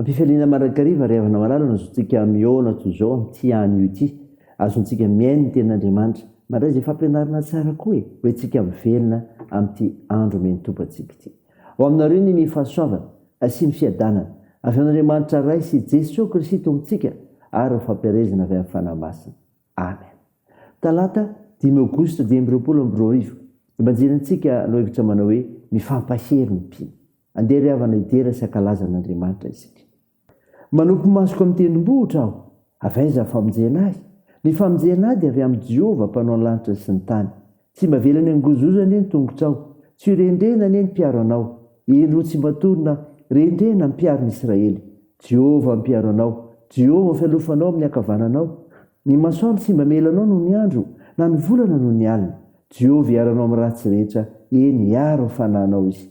Am-pifaliana mandrakariva ry havana malala no azontsika mihaona toy izao amin'ity anio ity. Azontsika mihaino ny Tenin'Andriamanitra. Mandray izay fampianarana tsara koa e! Ho entintsika mivelona amin'ity andro omen'ny Tompo antsika ity. Ho aminareo anie ny fahasoavana sy ny fiadanana avy amin'Andriamanitra Ray sy Jesoa Kristy Tompontsika ary ny fampielezana avy amin'ny Fanahy Masina. Amen. Talata dimy aogositra dimy amby roapolo amby roa arivo. Evanjelintsika loahevitra manao hoe Mifampahery ny mpino. Andeha ry havana hidera sy hankalaza an'Andriamanitra isika. Manopy masoko amin'ny tendrombohitra aho. Avy aiza ny famonjena ahy? Ny famonjena ahy dia avy amin'i Jehovah, Mpanao ny lanitra sy ny tany. Tsy mba velany hangozozo anie ny tongotrao. Tsy ho rendrena anie ny mpiaro anao. Eny, roa tsy mba torina, rendrena ny mpiaron'i Israely. Jehovah no mpiaro anao. Jehovah no fialofanao amin'ny ankavananao. Ny masoandro tsy mba mela anao noho ny andro, na ny volana noho ny alina. Jehovah hiaro anao amin'ny ratsy rehetra, eny, hiaro ny fanahinao izy.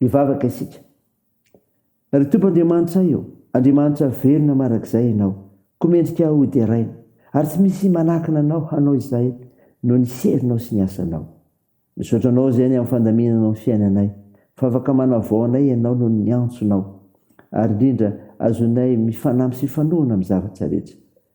Hivavaka isika. Ry Tompo Andriamanitray ô, Andriamanitra velona marak'izay Ianao, koa mendrika hoderaina, ary tsy misy manakana Anao hanao izay noho ny herinao sy ny asanao. Misaotra Anao izany amin'ny fandaminanao ny fiainanay, fa afaka manavao anay Ianao noho ny antsonao, ary indrindra azonay mifanampy sy hifanohana amin'ny zavatra rehetra.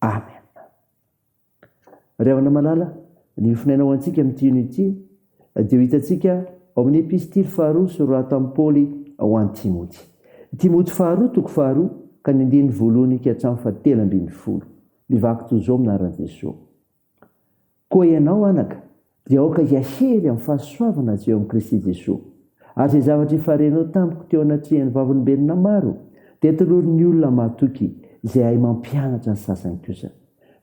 Amen. Ry havana malala, ny fonenao antsika amin'ity hino ity dia ho hitantsika ao amin'ny epistily faharoa soratan'i Paoly ho an'i Timoty. Timoty faharoa toko faharoa ka ny andininy voalohany ka hatramin'ny fahatelo ambin'ny folo. Mivaky toy izao amin'ny anaran'i Jesoa. Koa ianao, anaka, dia aoka hiahery amin'ny fahasoavana avy eo amin'i Kristy Jesoa. Ary izay zavatra efa renao tamiko teo anatrehan'ny Vavolombelona maro, dia tolorin'ny olona mahatoky izay hahay mampianatra ny sasany kosa.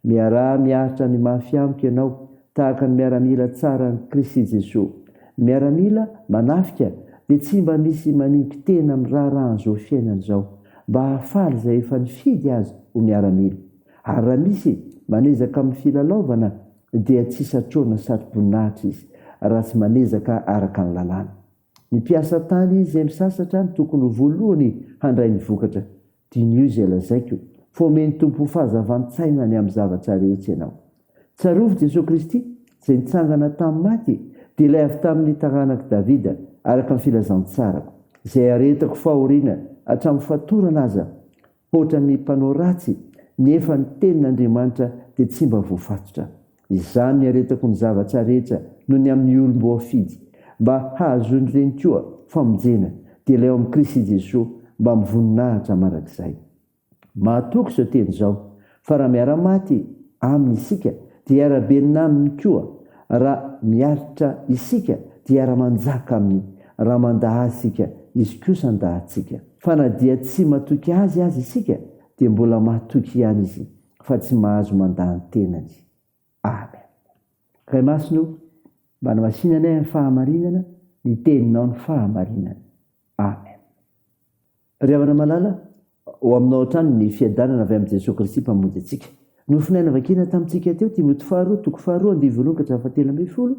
Miaraha miaritra ny mafy amiko ianao tahaka ny miaramila tsaran'i Kristy Jesoa. Ny miaramila manafika dia tsy mba misy maningin-tena amin'ny raharahan'izao fiainana izao, mba hahafaly izay efa nifidy azy ho miaramila. Ary raha misy manezaka amin'ny filalaovana dia tsy satroana satroboninahitra izy raha tsy manezaka araka ny lalàna. Ny mpiasa tany izay misasatra no tokony ho voalohany handray ny vokatra. Diniho izay lazaiko fa omen'ny Tompo ho fahazavan-tsaina ny amin'ny zavatra rehetra ianao. Tsarovy Jesoa Kristy izay nitsangana tamin'ny maty dia ilay avy tamin'ny taranak'i Davida araka ny filazantsarako, izay aretako fahoriana hatramin'ny fatorana aza, Hoatra ny mpanao ratsy, nefa ny tenin' Andriamanitra dia tsy mba voafatotra. Izany no iaretako ny zava-tsa rehetra no ny amin' ny olom-boafidy, mba hahazoany ireny koa famonjena, dia ilay ao amin' i Kristy Jesoa, mba mivoninahitra mandrakizay. Mahatoky izao teny izao, Fa raha miara-maty Aminy isika, dia hiara-benona Aminy koa, raha miaritra isika, dia hiara-manjaka Aminy, raha mandà Azy isika, Izy kosa handà antsika. Fa na dia tsy matoky Azy aza isika, dia mbola matoky ihany Izy, fa tsy mahazo mandà ny tenany. Amen. Ray Masina o, mba anamasina anay amin'ny fahamarinana, ny Teninao ny fahamarinana. Amen. Ry havana malala, ho aminao hatrany ny fiadanana avy amin'i Jesoa Kristy Mpamonjy antsika. Nofonay navakina tamintsika teo Timoty faharoa toko faharoa andivo voalohany ka hatramin'ny fahatelo ambin'ny folo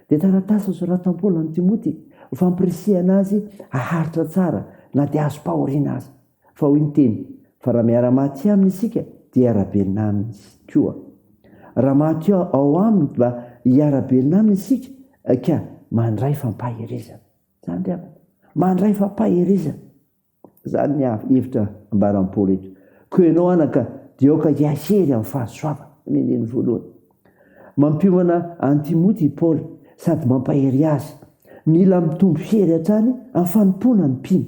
dia taratasy nosoratan'i Paoly amin'i Timoty ho fampirisihana azy haharitra tsara na dia azom-pahoriana aza. Fa hoy ny teny, Fa raha miara-maty aminy isika dia hiara-belona aminy koa. Raha maty ao aminy dia hiara-belona aminy isika ka mandray fampaherezana. Zany ry havana. Mandray fampaherezana. Zany ny hevitra ambaran'i Paoly eto. Koa ianao anaka, dia aoka hiahery amin'ny fahasoavana. Ny andininy voalohany. Mampiomana an'i Timoty i Paoly sady mampahery azy. Mila mitombo hery hatrany amin'ny fanompoana ny mpino.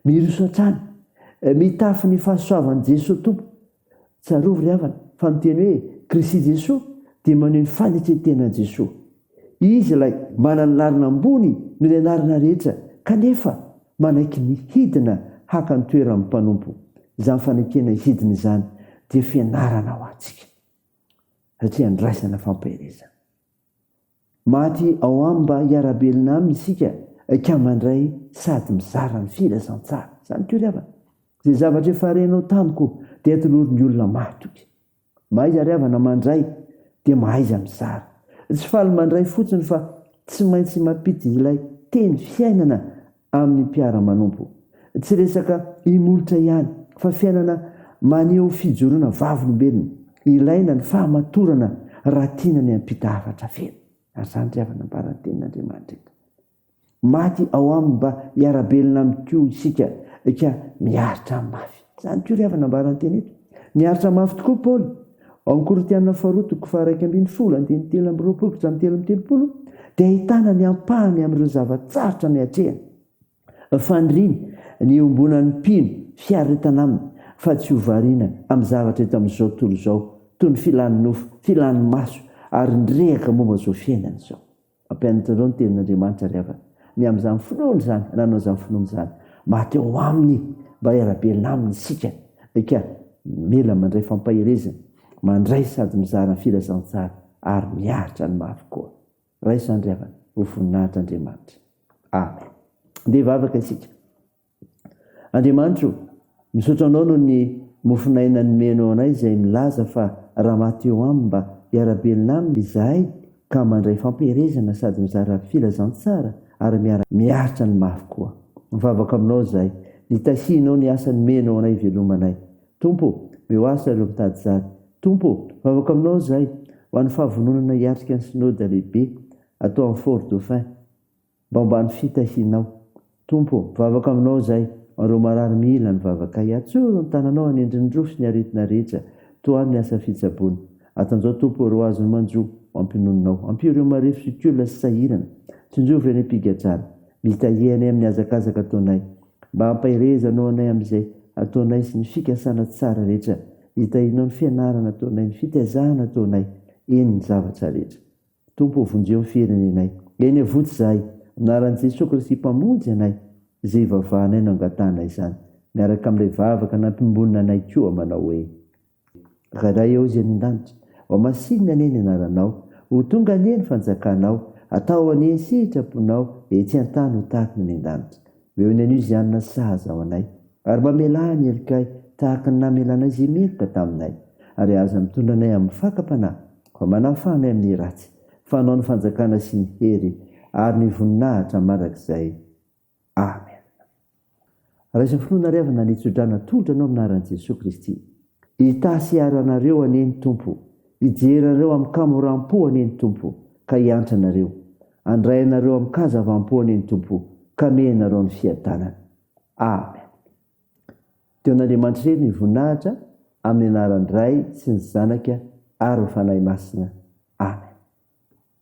Miroso hatrany. Mitafy ny fahasoavan'i Jesoa Tompo. Tsarovy ry havana fa ny teny hoe Kristy Jesoa dia maneho ny fanekentenan'i Jesoa. Izy ilay manana anarana ambony noho ny anarana rehetra kanefa manaiky ny hidina haka ny toeran'ny mpanompo. Izany fanekena hidina izany dia fianarana ho antsika satria andraisana fampaherezana. Maty ao aminy mba hiara-belona aminy isika ka mandray sady mizara ny filazantsara. Izany koa ry havana. Izay zavatra efa renao tamiko dia tolorin'ny olona maro tokoa. Mahaiza ry havana mandray dia mahaiza mizara. Tsy faly mandray fotsiny fa tsy maintsy mampiditra ilay teny fiainana amin'ny mpiara-manompo. Tsy resaka imolotra ihany, fa fiainana maneho fijoroana vavolombelona. Ilaina ny fahamatorana raha tiana ny hampita hafatra feno. Ary izany ry havana ambaran'ny Tenin'Andriamanitra eto. Maty ao Aminy mba hiara-belona amin'Ikoa isika ka miaritra Aminy mafy. Izany koa ry havana ambaran'ny teny eto. Niaritra mafy tokoa Paoly ao Korintiana faharoa toko faharaika ambin'ny folo andininy telo amby roapolo ka hatramin'ny telo amby telopolo dia ahitana ny ampahany amin'ireo zava-tsarotra niatrehany. Faniriany ny hiombonan'ny mpino fiaretana aminy fa tsy hovariana amin'ny zavatra eto amin'izao tontolo izao toy ny filan'ny nofo, filan'ny maso ary ny rehaka momba izao fiainana izao. Mampianatra anareo ny tenin'Andriamanitra ry havana. Miahy amin'izany finoany izany, hanao izany finoany izany. Maty ao Aminy mba hiara-belona Aminy isika. Eka, mila mandray fampaherezana, mandray sady mizara ny filazantsara, ary miaritra ny mafy koa. Raiso izany ry havana, ho voninahitr' Andriamanitra. Amen. Andeha hivavaka isika. Andriamanitra o! Misaotra Anao noho ny mofon'aina nomenao anay izay milaza fa raha maty eo Aminy mba hiara-belona Aminy izahay ka mandray fampiherezana sady mizara filazantsara ary miaritra ny mafy koa. Mivavaka Aminao izahay, nitahianao ny asa nomenao anay hivelomanay. Tompo o! Mihoasa ireo mitady zary. Tompo o! Mivavaka Aminao izahay ho an'ny fahavononana hiatrika ny Synode lehibe atao any Fort-Dauphin. Baomba ny fitahianao. Tompo ô, mivavaka aminao izahay, ho an'ireo marary mila ny vavakay. Atsoro ny tananao hanendry ny rofy sy ny aretina rehetra, tohano ny asa fitsaboana. Atanjaho Tompo ô, ireo azony manjo, ho ampinoninao. Ampio ireo marefo zokiolona sy sahirana. Tsinjovy ireo any am-pigadrana. Mitahie anay amin'ny hazakazaka ataonay. Mba hampaherezanao anay amin'izay ataonay sy ny fikasana tsara rehetra. Hitahianao ny fianarana ataonay, ny fitaizana ataonay, eny, ny zavatra rehetra. Tompo ô vonjeo ny firenenay. Eny avotsy zahay, anaran'i Jesoa Kristy Mpamonjy anay, izay ivavahanay no angatahana izany, miaraka amin'ilay vavaka nampimbonina anay koa manao hoe, Ray ray ao izay any an-danitra, ho masinina anie ny anaranao, ho tonga anie ny fanjakanao, atao anie ny sitraponao etsy an-tany ho tahaka ny any an-danitra. Omeo ny anio izay hanina sahaza ho anay, ary mamelà ny helokay tahaka ny namelanay izay meloka taminay, ary aza mitondra anay amin'ny fakam-panahy, Fa manafamy amin'ny ratsy. Fanao ny fanjakana sy ny hery ary ny voninahitra mandrakizay. Amena. Raiso finoana ry havana ny tsodrano atolotra anao amin'ny anaran'i Jesoa Kristy. Hitasy hiaro anareo anie ny Tompo, hijery anareo amin-kamoram-po anie ny Tompo ka hiantra anareo, handray anareo amin-kazavam-po anie ny Tompo ka hamehy anareo ny fiadanany. Amena. Dia ho an'Andriamanitra irery ny voninahitra amin'ny anaran'ny Ray sy ny Zanaka ary ny Fanahy Masina. Amen.